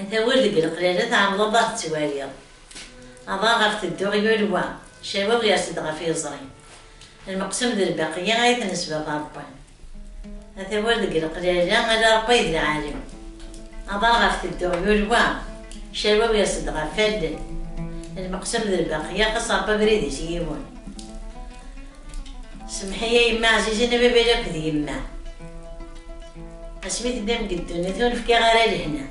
Ata wul deg leqlala tɛewwleḍ a t-twaliḍ. Aḍar ɣef tedduɣ yul wa, cawab yers-d ɣef yiẓri. Lmeqsum d lbaqiyya ay t-nesbab a Rebbi. Ata wul deg leqlala ala Rebbi ay d lɛali. Aḍar ɣef tedduɣ yul wa, cawab yers-d ɣef wallen. Lmeqsum d lbaqiyya xas Rebbi abrid-is yiwen. Semḥi a yemma ɛzizen a baba yakk d yemma asmi tennam deg ddunit ur nefkiɣ ara lehna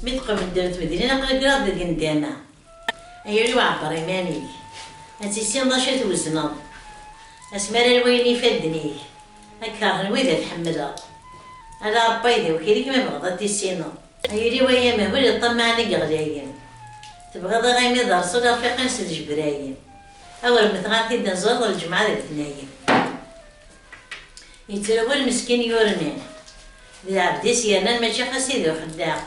mi tqebeddem tmedlin aqli kkreɣ deg ndama ay uriw ɛebber iman-ik ad tissineḍ acu i twezneḍ asmi ara lwayen yifadden-ik ad kkerhen wid ad tḥemmleḍ ala Rebbi ay d awkil-ik ma bɣeḍ ad tissineḍ ay uriw ay amehbul iṭṭammaɛen i yeɣlayen tebɣiḍ iɣimi d rreṣul arfiq-im s ljebrayen. Awer metɣa tidaẓaḍ lǧemɛa d letnayen. Yettrawal meskin yurni. D lɛebd-is yernan mačči xas i d uḥeddaq.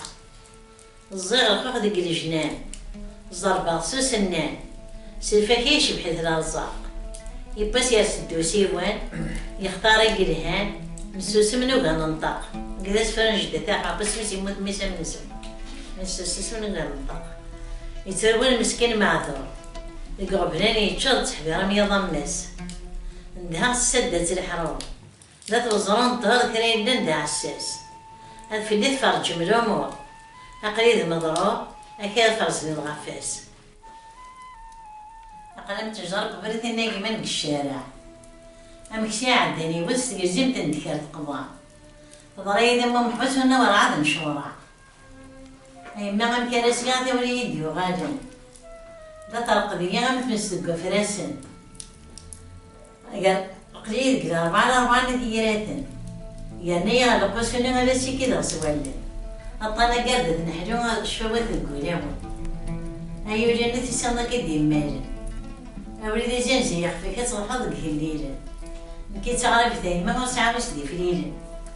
Ẓẓiɣ lxux deg lejnan. Ẓerbeɣ-t s usennan. S lfakya yecbeḥ-it lerẓaq. Iwwas yers-d usiwan. Yextar i yelhan. Nessusem nugi ad nenṭeq. Deg d asefru n jdat aḥeq. Isem-is yemmut mmi-s am nesem. Nessusem nugi ad nenṭeq. Yettrawal meskin maɛduṛ. Deg iɣeblan yečča d ttḥbir am yiḍ am mass. Ndha tessadda-tt leḥrum. D at weẓru n ṭṭher kra yellan d aɛessas. Ad fell-i tferǧem lumur. Aql-i d meḍrur, akka ara ferzen lɣafas. Aql-i am ttejra n ubrid inagmen deg ccaraɛ. Amek s iɛeddan yiwet tegzimt n ddkir teqḍa. Teḍra-yi-d am umḥuz ur nawi rɛad n curaɛ. Yemma amek ara sliɣ tawla iyi-d-yuɣalen. La terqed-iyi am tmes deg wafrasen. Aql-iyi deg larbɛa larbɛa n tiyraten. Yerna-iyi ɣer lequs-nni ad as-ikideɣ s wallen. Aṭṭan agerdet n ḥlu, cfawat deg wulawen. Ay ul n tisiḍ nekk i d-yemmalen. Abrid izzenz yixef-ik ad truḥeḍ deg igellilen. Nekk i d taɣrabit a yemma ur sɛiɣ wi s-d-iflilen.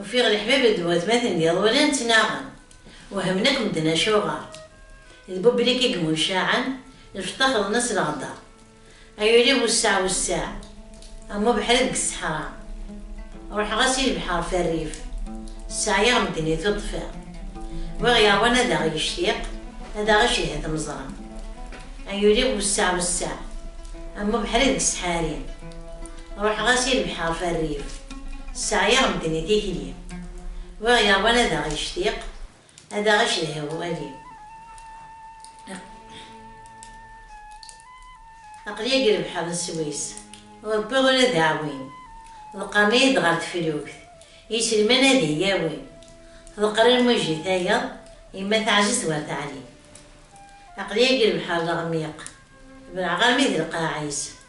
Ufiɣ leḥbab d watmaten d iḍulan ttnaɣen, wehmen akk medden acuɣer. D Bublik i yemmucaɛen, lfeṭṭa xḍen-as leɣda. Ay ul-iw wesseɛ wesseɛ, am ubeḥri deg ṣṣeḥra. Ruḥeɣ-as i lebḥer f rrif, sseɛyaɣ medden i tuṭṭfiḍ. Wi ɣ-yeṛwan ad aɣ-yectiq, ad aɣ-icedhi tmeẓra. Ay ul-iw wesseɛ wesseɛ, am ubeḥri deg ssḥari. Ruḥeɣ-as i lebḥer f rrif, sseɛyaɣ medden i tikli. Wiɣ yeṛwan ad aɣ-yectiq, ad aɣ-icedhi wali. Aql-i agi lebḥer n Sswis, ur wwiɣ ula d aɛwin. Ḍeqqren-iyi-d ɣer teflukt, iselman ad iyi-awin. Teḍqer lmuj i tayeḍ, yemma teɛjez war taɛlim. Aql-i agi lebḥer leɣmiq, belɛeɣ armi d lqaɛ-is.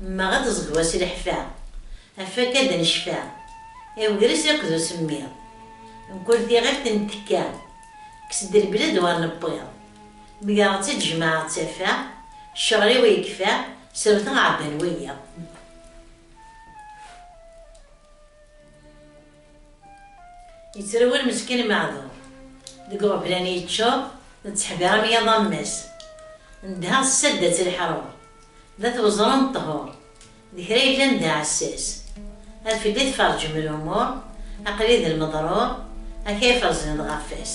Mmeɣ ad ẓegwa s leḥfa. Afak ad necfa. I ugris akked usemmiḍ. Mkul tiɣilt nettekka. Kkes-d lbled war newwiḍ. Mgareɣ-tt-id jemɛeɣ-tt taffa. Ccɣel-iw yekfa. Srewteɣ ɛebban wiyiḍ. Yettrawal meskin maɛduṛ. Deg uɣeblan yeččuṛ, netteḥbiṛ am yiḍ ammas. Nedheɣ s sadda tt leḥṛuṛ, d at weẓru n ṭṭhur. D kra yellan d aɛessas. Ar fell-i tferǧem lumuṛ, aql-i d lmeḍṛuṛ, akayef reẓyen-d ɣef wass.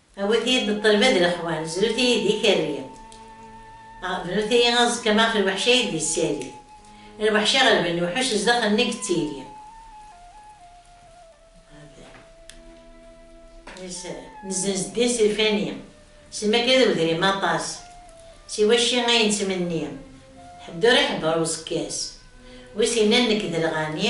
A wid-iyi-d n ṭṭelba d leḥwal, zrut-iyi-d ikerri. Bnut-iyi aẓekka ma ɣef lweḥc ay d-yessali. Lweḥc iɣelben lewḥuc zdaxel-nni yettili. Nezzenz ddin s lfani, s lmakla d wedrim aṭas, si wacci ay nettmenni, ḥedd ur iḥebber uẓekka-s, wi s-yennan nekk d lɣani.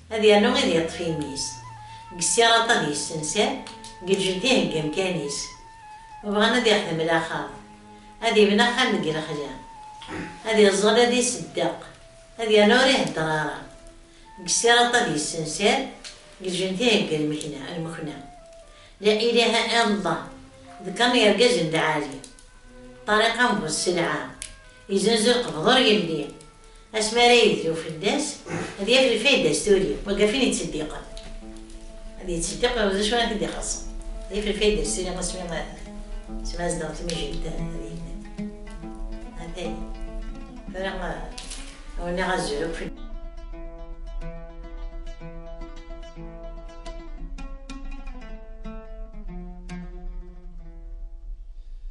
Ad yernu ad yeṭṭef imi-s. Deg ssiraṭ ad yessenser, deg lǧend iheggi amkan-is. Ma bɣan ad ixdem laxaṭ, ad ibna axxam deg lexla. Ad iẓẓel, ad iseddeq, ad yernu ur iheddeṛ ara. Deg ssiraṭ ad yessenser, deg lǧend iheggi lmekna. La ilaha illallah, d kan yergazen lɛali. Ṭariq am bu sselɛa, izenzu lqebḍ ur yelli. Asmi ara yedlu fell-as, ad yaf lfayda s tuli, wagaf in yettseddiqen. Ad yettseddiq d acu ara t-id-ixaṣṣen. Ad yaf lfayda s tuli asmi asmi ad zedɣen tmijelt ad yemmet. Atay. Tura awniɣ azul akk fell.